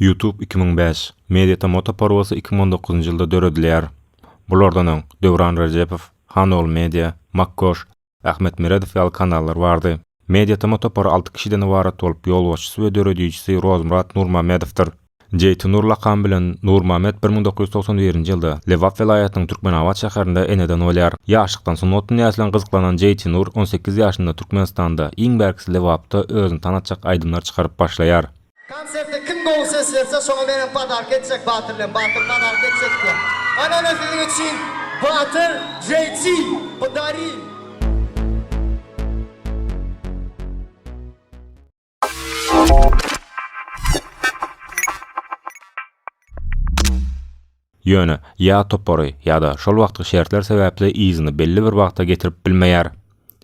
Youtube iki müň bäş, Mediata Moto Porwasy iki müň on dokuzynjy ýylda döredilýär. Bulardan öň, Döwran Rejepow, Hanogul Media, Makkoş, Ahmet Meredow ýaly kanallar bardy. Mediata Moto Por alty kişiden ybarat bolup, ýolbaşçysy we döredijisi Rozmyrat Nurmamedowdyr. Jeýtunur lakamy bilen Nurmamet bir müň dokuz ýüz togsan birinji ýylda Lebap welaýatynyň Türkmenabat şäherinde eneden bolýar. Ýaşlykdan sungat dünýäsi bilen gyzyklanan Jeýtunur on sekiz ýaşynda Türkmenistanda, iň bärkisi Lebapda özüni tanatjak aýdymlar çykaryp başlaýar. Konserte kim gowy ses berse şoňa men hem padarka etjek Batyr bilen Batyr padarka etjek diýen. Anana siziň üçin Batyr JT pdarin. Ýöne, ýa topary, ýa-da şol wagtky şertler sebäpli yzyny belli bir wagta getirip bilmeýär.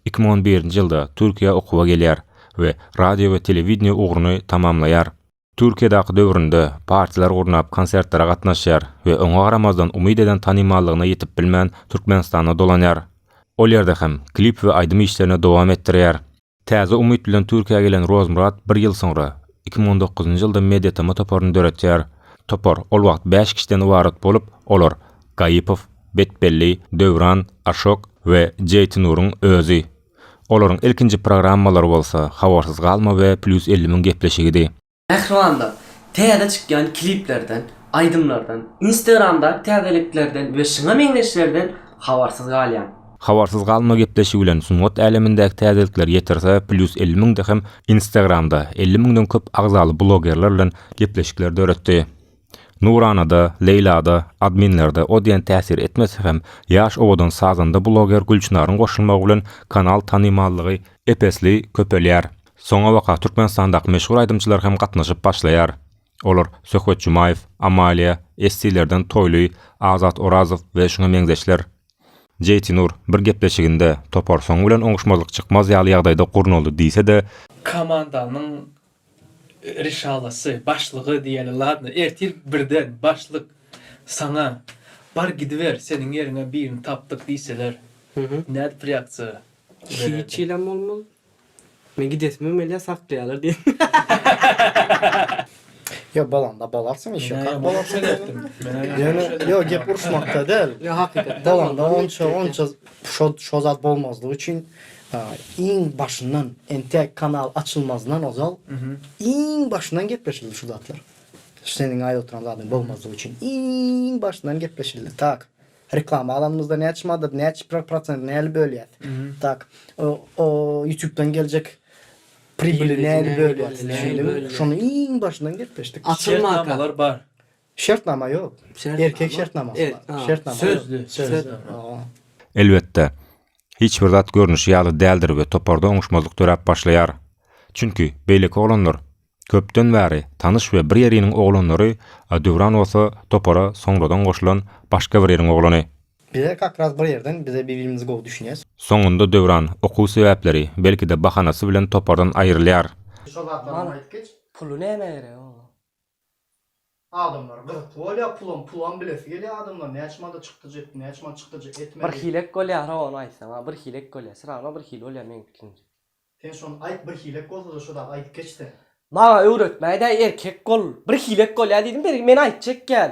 Iki müň on birinji ýylda Türkiýä okuwa gelýär we radio we telewideniýe ugruny tamamlaýar. Türkiýedaky döwründe partiýalar gurnap konsertlere gatnaşýar we oňa garamazdan umyt eden tanymallygyna ýetip bilmän Türkmenistana dolanýar. Ol ýerde hem klip we aýdym işlerini dowam etdirýär. Täze umyt bilen Türkiýä gelen Rozmyrat bir ýyl soňra, iki müň on dokuzynjy ýylda Mediatama toparyny döretýär. Topar ol wagt bäş kişiden ybarat bolup, olar, Gaýypow, Betbelli, Döwran, Aşok we Jeýtinuryň özi. Olaryň ilkinji programmalary bolsa, Habarsyz galma we Plýus elli müň gepleşigidi. Mähribanlar, täze çykýan kliplerden, aýdymlardan, Instagramdaky täzeliklerden we şyna meňzeşlerden habarsyz galýaň. Habarsyz galma gepleşigi bilen sungat älemindäki täzelikler ýetirse plýus elli müňde hem Instagramda elli müňden köp agzaly blogerler bilen gepleşikler döretdi. Nuranada, Leýlada, adminlerde o diýen täsir etmese hem, ýaş owadan sazanda bloger Gülçynaryň goşulmagy bilen kanal tanymallygy ep-esli köpelýär. Soňabaka Türkmenistandaky meşhur aýdymçylar hem gatnaşyp başlaýar. Olar Söhbet Jumaýew, Amalia, Esti-lerden Toýly, Azat Orazow we şuňa meňzeşler. Jeýtinur bir gepleşiginde, Topar soňy bilen oňuşmazlyk çykmaz ýaly ýagdaýda gurnaldy diýse-de, Komandanyň Risalasy, başlygy diýeli ladno, ertir birden başlyk saňa Bar gidiber, seniň ýeriňe birini tapdyk diýseler, nädip reaksiýa bererdiň? Hiç hilem bolmaz. Men gidesimem gelýär, saklaýarlar diýerdim. Ýok, bolanda bolarsyň, iş ýok. Kak bolarsyň diýdim. Ýöne, ýok, gep uruşmakda däl. Ýok, hakykatdan bolmaz. Bolanda onça, onça şo zat bolmazlygy üçin Iň başyndan, entek kanal açylmazyndan ozal iň başyndan gepleşildi şu zatlar. Seniň aýdyp oturan zadyňy bogmazlyk üçin iň başyndan gepleşildi. Tak. Reklama alanymyzda näçe madat, näçe prosent nähili bölýäs. Tak. O ýutubdan geljek pribili nähili bölýäs. Düşündiňmi? Şony iň başyndan gepleşdik. Şertnamalar bar. Şertnama ýok. Erkek şertnamasy bar. Erk, a. Şertnama ýok. Sözli. Sözli. Hawa. Elbetde, hiç bir zat görnüşi ýaly däldir we toparda oňuşmazlyk döräp başlaýar. Çünki, beýleki oglanlar, köpden bäri tanyş we bir ýeriniň oglanlary, a Döwran bolsa topara soňradan goşulan başga bir ýeriň oglany. Bize kakras bir ýerden, bize bir-birimizi gowy düşünýäs. Soňunda Döwran, okuw sebäpleri, belki-de bahanasy bilen topardan aýrylýar. Şol zatlaram aýdyp geç. Puly nämä gerek oň? Adamlar gyzykly bolýar pulam pulam bilesi gelýär adamlar näçe manda çykdajy etdi näçe manda çykdajy etmedi. Bir hilek bolýara ony aýtsaňa bir hilek bolýar syragna bir hili bolýar meň pikirimce. Sen şony aýt bir hilek bolsada şu zady aýdyp geç sen. Maňa öwretmäýdä erkek bol bir hilek bolýar diýdim bergi meni aýtjak gel.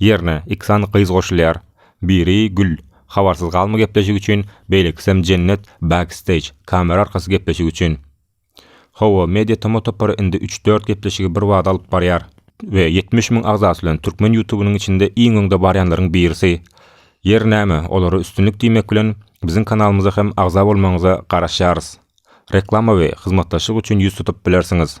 Ýerine, iki sany gyz goşulýar. Biri, Gül, habarsyz galma gepleşik üçin, beýlekisem Jennet, backstage, kamera arkasy gepleşik üçin. Hawa, Media Toma topary indi üç-dört gepleşigi birbada alyp barýar. We ýetmiş müň agzasy bilen türkmen ýutubynyň içinde iň öňde barýanlaryň birisi. Ýeri näme, olara üstünlik diýmek bilen, biziň kanalymyza hem agza bolmagyňyza garaşýarys. Reklama we hyzmatdaşlyk üçin ýüz tutup bilersiňiz.